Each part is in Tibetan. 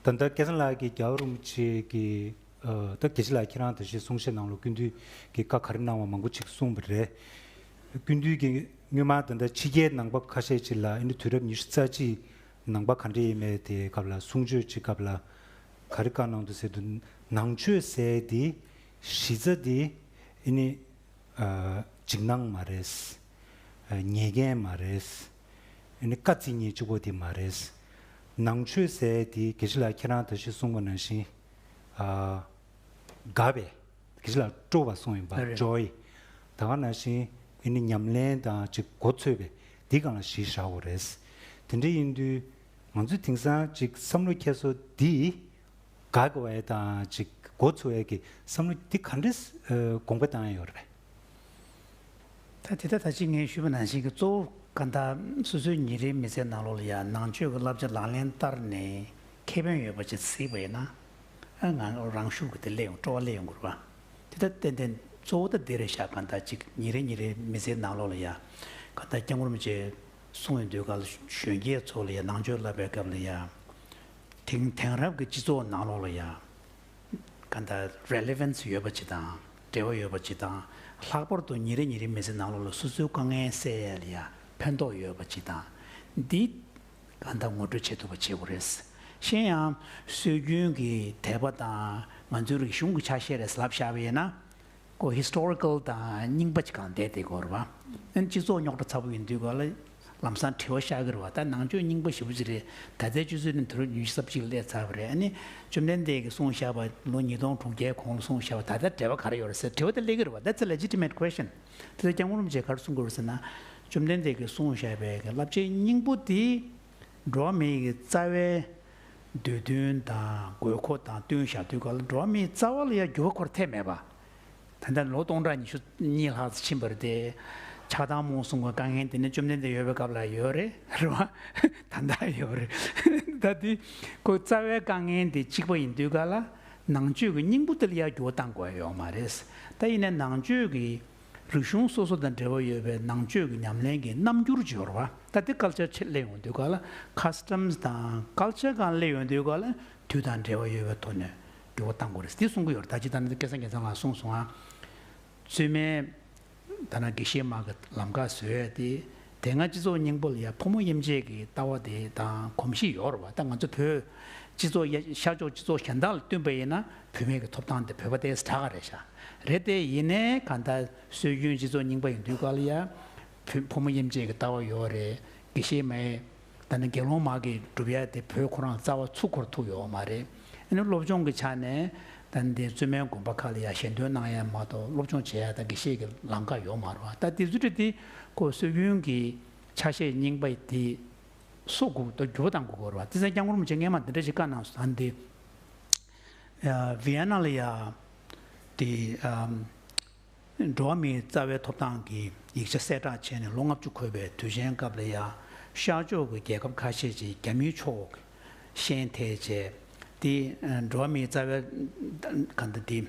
ད་ལྟ་སྐལ་བཟང་ལགས་ཀྱིས་རྒྱ་བོད་རིན་པོ་ཆེ་གི། ད་དགེ་བྱེད་ལགས་ཁྱེད་རང་དང་ཞེས་གསུང་བཤད་གནང་ལོ་ཀུན་འདུས་ཀྱི་བཀའ་ག་རེ་གནང་བ་མང་པོ་ཅིག་གསུངས་པ་རེད། ཀུན་འདུས་ཀྱིས་སྔོན་མ་ད་ལྟ་ཕྱི་རྒྱལ་ནང་པ་ཁ་ཤས་ཅིག་ལ་ཨ་ནི་དུས་རབས་ཉི་ཤུ་རྩ་གཅིག་ནང་པ་ག་འདྲ་ཡིན་མེད་དེའི་སྐབས་ལ་གསུང་ཆོས་ཅིག་སྐབས་ལ་ག་རེ་བཀའ་གནང་འདུག་ཟེར་དུ་ནང་ཆོས་ཟས་དེ་གཞི་རྩ་དེ་ཨི་ནི། འཇིགས་སྣང་མ་རེད། ཉེས་འགན་མ་རེད། ཨ་ནི་བཀའ་བརྩི་ཉིན་གཅིག་པོ་དེ་མ་རེད། ནང་ཆོས་ཟས་དེ་དགེ་བྱེད་ལགས་ཁྱེད་རང་ད་གཞི་གསུངས་པ་ནང་བཞིན། དགའ་བས། དགེ་བྱེད་ལགས་སྤྲོ་བ་སོང་ཡིན་པ Joy། ད་ག་ནང་བཞིན་ཨ་ནི་ཉམས་ལེན་དང་ཅིག་མགོ་ཚོས་པས་འདི་གང་ལ་གཞི་བཞག་གོ་རེད། དེ་འདྲ་ཡིན་དུས། ང་ཚོས་དེང་སང་ཅིག་བསམ་བློ་ཁྱད་གསོ་འདི། དགག་བའི་དང་ཅིག་མགོ་ཚུགས་འེ་གི་བསམ་བློ་འདི་ག་འདྲའི་དགོངས་པ་བཏང་ཡོད་རེད། ད་དེ་ད་ད་ཅིག་ངས་ཞུས་པ་ནང་བཞིན་གི་གཙོ་བོ་ག་ད་སོ་སོའི་ཉིན་རེའི་མི་ཚེའི་ནང་ལོགས་ལ་ཡ་ནང་ཆོས་གི་བསླབ་བྱ་ལག་ལེན་བསྟར་ནས་ཁེ་ཕན་ཡོད་པ་ཅིག་གཟིགས་པ་ཡིན་ན་ཨ་ང་རང་ཤུགས་ཀྱི་དེ་སླེ་ཡོང་སྤྲོ་བ་སླེ་ཡོང་གུར་བ་དེ་ད་ཏན་ཏན་གཙོ་བོ་ད་འདི་རེད་བཞག་ག་ད་ཅིག་ཉིན་རེ་ཉིན་རེའི་མི་ཚེའི་ནང་ལོགས་ལ་ཡ་ག་ད་སྐྱབས་མགོན་རིན་པོ་ཆེ་གསུང་ཡོད་དུས་ག་ལ་གཞོན་སྐྱེས་ཚོ་ལ་ཡ་ནང་ཆོས་བསླབ་པའི་སྐབས་ལ་ཡ་དེང་དེང་རབས་ཀྱི་སྤྱི་ཚོགས་ནང་ལོགས་ལ་ཡང་ག་འདྲ Relevance ཡོད་པ་ཇི་དང་འབྲེལ་བ་ཡོད་པ་ཇི་དང་ལྷག་པར་དུ་ཉིན་རེ་ཉིན་རེ་མི་ཚེ་ནང་ལོགས་ལ་སོ་སོའི་དཀའ་ངལ་སེལ་ཡས་ལ་ཡང་ཕན་ཐོགས་ཡོད་པ་ཇི་དང་འདི་ག་འདྲ་ངོ་སྤྲོད་བྱེད་ཐུབ་པ་བྱེད་དགོས་རེད། གཞན་ཡང་སྲོལ་རྒྱུན་གྱི་དད་པ་དང་ང་ཚོའི་རིག་གཞུང་གི་ཆ་ཤས་རེད་ཟེར་ལབ་བཞག་པ་ཡིན་ན། སྒོ Historical དང་རྙིང་པ་གཅིག་གང་བསྡད་དེ་སྒོར་བ། ཨན་སྤྱི་ཚོགས་རྙོག་དྲ་ཚ་པོ་ཡིན་དུས་ག་ལ་ལམ་སང་དྲི་བ་ཤག་གི་རེད་བ་ད་ནང་ཆོས་རྙིང་པ་ཞིབ་གཅིག་རེད་ད་ལྟའི་སྤྱི་ཚོས་ནི་དུ་རུ་ཉུལ་གསབ་གཅིག་སླད་ཚར་བ་རེད་ཨ་ནི་བཅོམ་ལྡན་འདས་ཀྱི་གསུང་བཤགས་པ་ལོ་ཉིས་སྟོང་དྲུག་བརྒྱའི་གོང་ལ་གསུང་བཤགས་པ་ད་ལྟ་འབྲེལ་བ་ག་རེ་ཡོད་རེད་ཟེར་དྲི་བ་དེ་སླད་ཀི་རེད་བ that's a legitimate question དེ་ཚོ་སྐྱག་ངུ་རུམ་བྱེད་ག་རེ་གསུང་གི་རེད་ཟེར་ན། བཅོམ་ལྡན་འདས་ཀྱི་གསུང་བཤགས་པའི་གི་བསླབ་བྱའི་སྙིང་པོ་དེ། འགྲོ་བ་མིའི་རྩ་བའི་འདོད་འདུན་དང་དགོས་མཁོ་དང་བསྟུན་བཞག་དུས་བཀག་ལ་འགྲོ་བ་མིའི་རྩ་བ་ལ་ཡང་འགྱུར་བ་འཁོར་ཐལ་མེད་པ། ད་ལྟ་ལོ་སྟོང་ཕྲག་ཉི་ཤུ་གཉིས་ལྷག་ཙམ་ཕྱིན་པ་རེད་དེ། ཆགས་སྡང་རྨོངས་གསུམ་གྱི་དཀའ་ངལ་འདི་ནི་བཅོམ་ལྡན་འདས་ཡོད་པའི་སྐབས་ལ་ཡོད་རེད་རེད་བ། ད་ལྟ་ཡོད་རེད། ད་དུས་ཁོའི་རྩ་བའི་དཀའ་ངལ་འདི་གཅིག་པ་ཡིན་དུས་བཀག་ལ་ནང་ཆོས་ཀྱི་སྙིང་པོ་འདི་ལ་ཡང་འགྱུར་བ་གཏང་དགོས་ཡོད་མ་རེད། ད་ཡིན་ནའི་ནང་ཆོས་ཀྱི། རིག་གཞུང་སོ་སོ་དང་འབྲེལ་བ་ཡོད་པའི་ནང་ཆོས་ཀྱི་ཉམས་ལེན་གྱི་རྣམ་འགྱུར་སྦྱོར་བ་ལྟ་སྟེ་སྐལ་ཆ་ཆེར་གླེང་བ་འདུས་ཁ་ལ Customs དང་སྐལ་ཆ་གང་གླེང་བ་འདུས་ཁ་ལ་དུས་དང་འབྲེལ་བ་ཡོད་པའི་དོ་ནོས་འགྱུར་བ་བཏང་དགོས་རེད་དེ་གསུང་གི་ཡོད་རེད་ད་ཅི་ད་ནི་སྐལ་བཟང་རྒྱལ་བཟང་ལགས་གསུངས་སོང་ང་བཙུན་མའི་ད་ནང་དགེ་བཤེས་དམག་གི་ལམ་ཁ་བཟོས་ཏེ། དེ་སྔ་སྤྱི་ཚོགས་སྙིང་པོ་ལ་ཡང་ཕོ་མོ་དབྱེ་འབྱེད་ཀྱི་ལྟ་བ་དེ་དང་གོམས་གཤིས་ཡོད་རེད་བ་ད་ང་ཚོ་བོད་སྤྱི་ཚོགས་ཤར་ཕྱོགས་སྤྱི་ཚོགས་གཞན་དག་ལ་བསྟུན་པ་ཡིན་ན་བུད་མེད་ཀྱི་ཐོབ་ཐང་དེ་བོད་པ་དེ་ཟ་ག་རེད་ཤ་རེད་དེ་ཡིན་ནའི་ག་ད་སྲོལ་རྒྱུན་སྤྱི་ཚོགས་རྙིང་པ་ཡིན་དུས་ག་ལ་ཡ་བུ་ཕོ་མོ་དབྱེ་འབྱེད་ཀྱི་ལྟ་བ་ཡོད་རེད་དགེ་བཤེས་མ་ཨེ། ད་ནི་དགེ་སློང་མ་གིས་བསྒྲུབ་ཡ་དེ་བོས་ཁོ་རང་རྩ་བ་ཚུགས་འཁོར་ཐུག་ཡོའོ་མ་རེད། ཨ་ནི་སློབ་སྦྱོང་གི་ཆ་ནས་ད་ནི་དེ་བཙུན་མའི་དགོན་པ་ཁག་ལ་ཡང་ཞལ་འདོན་གནང་ཡ་མ་གཏོགས་སློབ་སྦྱོང་བྱེད་ཡ་དང་དགེ་བཤེས་ཀྱི་ལམ་ཁ་ཡོའོ་མ་རུང་ཨ་ད་དེ་ཚུལ་ཁྲིམས་དེ་ཁོ་སྲོལ་རྒྱུན་གྱི་ཆ་ཤས་རྙིང་པ་དེ་སོ་དགུ་ཏུ་འགྱུར་བ་དང་དགོས་དགོས་རུང་ཨ་ད་སེམས་ཀྱང་ངོར་མི་བྱེད་ངས་མ་འདི་འདྲ་ཞིག་བཀའ་གནང་སོང་ད་ནི་ཡ་བྷི་ཡ་ན་ལ་ཡ་དེ། འགྲོ་བ་མིའི་རྩ་བའི་ཐོབ་ཐང་གི་ཡིག་ཆ་གསལ་བསྒྲགས་བྱས་ནས་ལོ་ལྔ་བཅུ་འཁོར་བའི་དུས་ཆེན་སྐབས་ལ་ཡ་ཤར་ཕྱོགས་ཀྱི་རྒྱལ་ཁབ་ཁ་ཤས་ཀྱིས་རྒྱ་མིའི་ཕྱོགས་ཞེན་ཐལ་བཅད་དེ། འགྲོ་བ་མིའི་རྩ་བའི་ག་ད་དེ།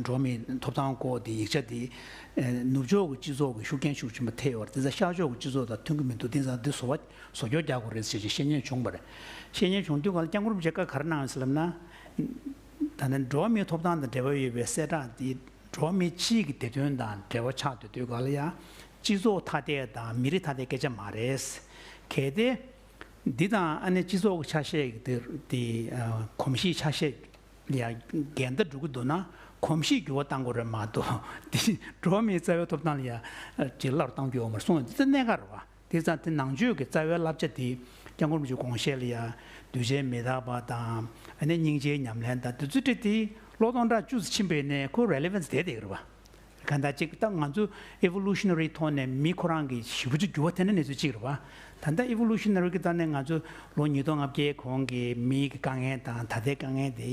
འགྲོ་བ་མིའི་ཐོབ་ཐང་སྐོར་གྱི་ཡིག་ཆ་དེ། ནུབ་ཕྱོགས་ཀྱི་སྤྱི་ཚོགས་ཀྱིས་ཤུགས་རྐྱེན་ཤུགས་ཆེན་པོ་ཐེབས་པར་དེ་ཚོ་ཤར་ཕྱོགས་ཀྱི་སྤྱི་ཚོགས་དང་མཐུན་གྱི་མི་འདུག་དེང་སང་འདི་བཟོ་བ་བཟོ་སྐྱོར་རྒྱག་དགོས་རེད་ཟེར་བཞིན་བཤད་ཉེན་བྱུང་བ་རེད། བཤད་ཉེན་བྱུང་དུས་ང་ལ་སྐྱབས་འགོར་མཇལ་ཁ་ག་རེ་གནང་ཡོད་ཟེར་ལབ་ན། ད་ནི་འགྲོ་བ་མིའི་ཐོབ་ཐང་དང་འབྲེལ་བ་ཡོད་པའི་གསལ་བསྒྲགས་འདིས་འགྲོ་བ་མི་སྤྱིའི་བདེ་དོན་དང་འབྲེལ་བ་ཆགས་འདུག་དུས་འགའ་ལ་ཡང་སྤྱི་ཚོགས་ཐ་དད་དང་མི་རིགས་ཐ་དད་སྐད་ཆ་མ་རེད། གལ་ཏེ། འདི་དང་ཨ་ནེ་སྤྱི་ཚོགས་ཀྱི་ཆ་ཤས་དེ་གོམས་གཤིས་ཆ་ཤས་ལས་འགལ་ཟླ་འགྲོ་གི་འདུག་ན་གོམས་གཤིས་འགྱུར་བ་གཏང་དགོས་རེད་མ་གཏོགས་འདི་འགྲོ་བ་མིའི་རྩ་བའི་ཐོབ་ཐང་ལ་ཡང་ཇེ་སླ་རུ་གཏང་རྒྱུ་ཡོད་མ་རེད་གསུངས་ཡོད་འདི་ཚོ་གནད་འགག་རེད་བ། དེ་ཙམ་དེ་ནང་ཆོས་ཀྱི་རྩ་བའི་བསླབ་བྱ་དེ་སྐྱབས་འཁོར་མི་འཇུག་དགོངས་བཞེད་ལ་ཡང་གདུལ་བྱའི་མི་རྟག་པ་དང་ནི་སྙིང་རྗེའི་ཉམས་ལེན་དང་དུ་ཚོད་དྲིལ་ཏེ་ལོ་སྟོང་ཕྲག་བཅུ་ཚུན་ཕྱིན་པས་ནི་ཁོ Relevance དེ་དེ་རེད། གང་ལྟར་གཅིག་ལྟ་ང་ཚོ Evolutionary ཐོག་ནས་མི་ཁོ་རང་གི་བཞི་བཅུ་ཚུན་འགྱུར་བ་དེ་འདྲ་གནས་ཚུལ་གཅིག་རེད། ད་ལྟ Evolutionary ཀྱི་ལྟ་ནས་ང་ཚོ་ལོ་ཉིས་སྟོང་ལྔ་བརྒྱའི་གོང་གི་མིའི་དཀའ་ངལ་དང་ད་ལྟའི་དཀའ་ངལ་དེ